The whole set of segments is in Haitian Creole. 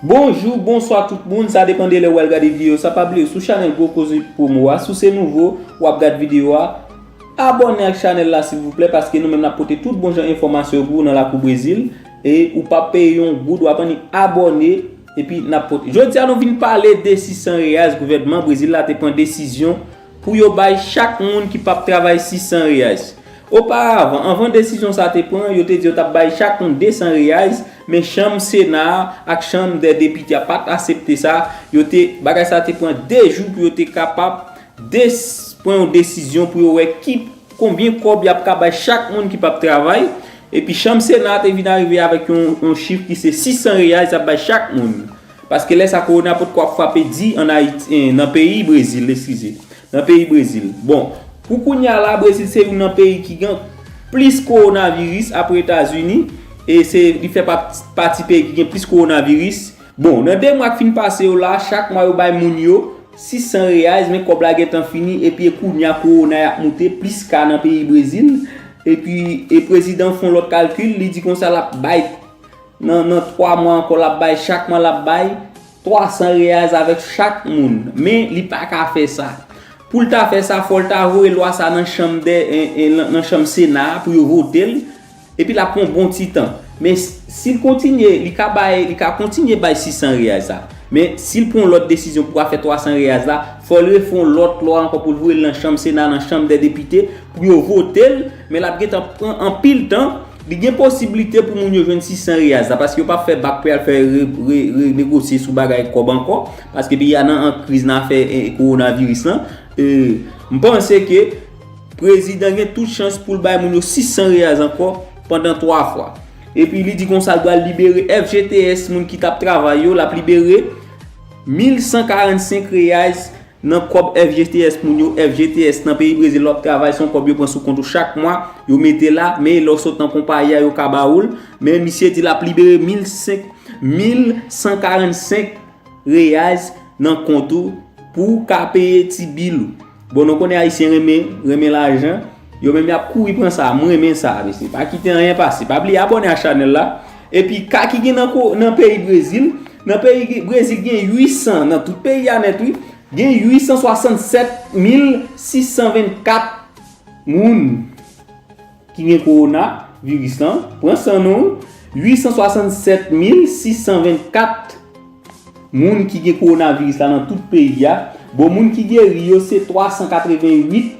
Bonjou, bonswa tout moun, sa depan de lè ou al gade videyo sa, pa bliye sou chanèl Gwo Koze Pwomo a, si w se nouvo, w ap gad videyo a, abòne ak chanèl la silvouplè paske nou menm n ap pote tout bon jan enfòmasyon yo pou ou nan lakou Brezil, e ou pa p peye yon goud, w ap annik abòne, epi n ap pote. Jodi a nou vin pale de 600 reais gouvènman Brezil la te pran desizyon. pou yo bay chak moun ki pap travay 600 reais. Oparavan, anvan desizyon sa te pran, yo te di yo tap bay chak moun 200 reais, men chanm sena a ak chanm dè depite a pat asepte sa, yo te, bagay sa te pran 2 jou pou yo te kapab de pran yon desizyon pou yo wè ki konbyen kòb yap ka bay chak moun ki pap travay, epi chanm sena a te vin arive avèk yon chif ki se 600 reais yap bay chak moun. Paske lè sa kowona potko ap frape di an Ayiti, en nan peyi Brezil, eskize. Nan peyi Brezil. Bon, pou kounya la Brezil se youn nan peyi ki gen plis kowonaviris apre Etazini e se li fè pati peyi ki gen plis kowonaviris. Bon, nan 2 mwa k fin pase yo la, chak mwa yo bay moun yo 600 reais men kòb la gentan fini epi e kounya kowona y ap moute, plis ka nan peyi Brezil epi e prezidan fon lòt kalkil li di konsa l ap bay Nan nan 3 mwa ankò lap bay chak mwa lap bay 300 reais avèk chak moun men li paka fè sa poul ta fè sa fòl ta voye lwa sa nan chanm dè nan chanm sena a pou yo votel epi lap pran yon bon ti tan men sil kontinye li ka bay li ka kontinye bay 600 reais sa men sil pran yon lòt desizyon pou afè 300 reais la fòl refè yon lòt lwa ankò poul voyel nan chanm sena nan chanm dè depite pou yo votel Men lap gentan pran anpil tan. Li gen posiblite pou moun yo jwenn 600 riyaz la paske yo pap fè bak pou yal fè renegosye sou bagay kòb ankò paske peyi a nan kriz nan afè kowonaviris lan. M panse ke prezidan gen tout chans pou l bay moun yo 600 riyaz ankò pandan 3 fwa. Epi li di konsa l pral libere FGTS moun ki tap travay yo, lap libere 1145 riyaz Nan kòb FGTS moun yo, FGTS nan peyi Brezil lè wap travay se yon kòb yo pran sou kont ou chak mwa, yo mete la, men lè w sot nan konpayi a yo ka ba ou l, men misye di lap libere 1145 reais nan kont ou pou w ka peye ti bil ou. Bon nou konnen ayisyen renmen, renmen lajan. Yo menm yap kouri pran sa a m renmen sa a mesye pa kite anyen pase pa bliye abòne a chanèl la epi ka ki gen nan peyi brezil nan peyi brezil gen 800 nan tout peyi a nèt wi gen 867624 moun ki gen korona viris lan pran san nou 867624 moun ki gen korona viris la nan tout peyi a bon moun ki geri yo se 388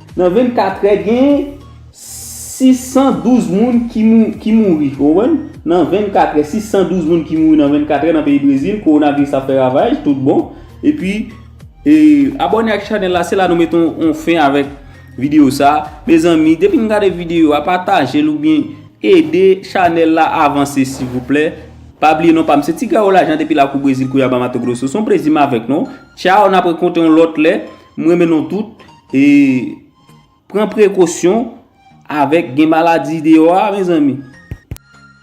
Nan 24 trè gen 612 moun ki mouri. Ou konprann? Nan 24 trè, 612 moun ki mouri nan 24 trè nan peyi Brezil, kowonaviris ap fè ravaj tout bon. E pi, abòne ak chanèl la, se la nou mete yon fen avèk videyo sa. Mezanmi, depi nou gade videyo a, pataje l ou byen ede chanèl la avanse silvouplè. Pa bliye non pa m, se Tigaro Lajan depi lakou Brezil, Kouiaba, Mato Grosso. Son plezi m avèk nou. Tchao, n ap rekontre yon lòt lè. M renmen nou tout e pran prekosyon avèk gen maladi deyò a mezanmi.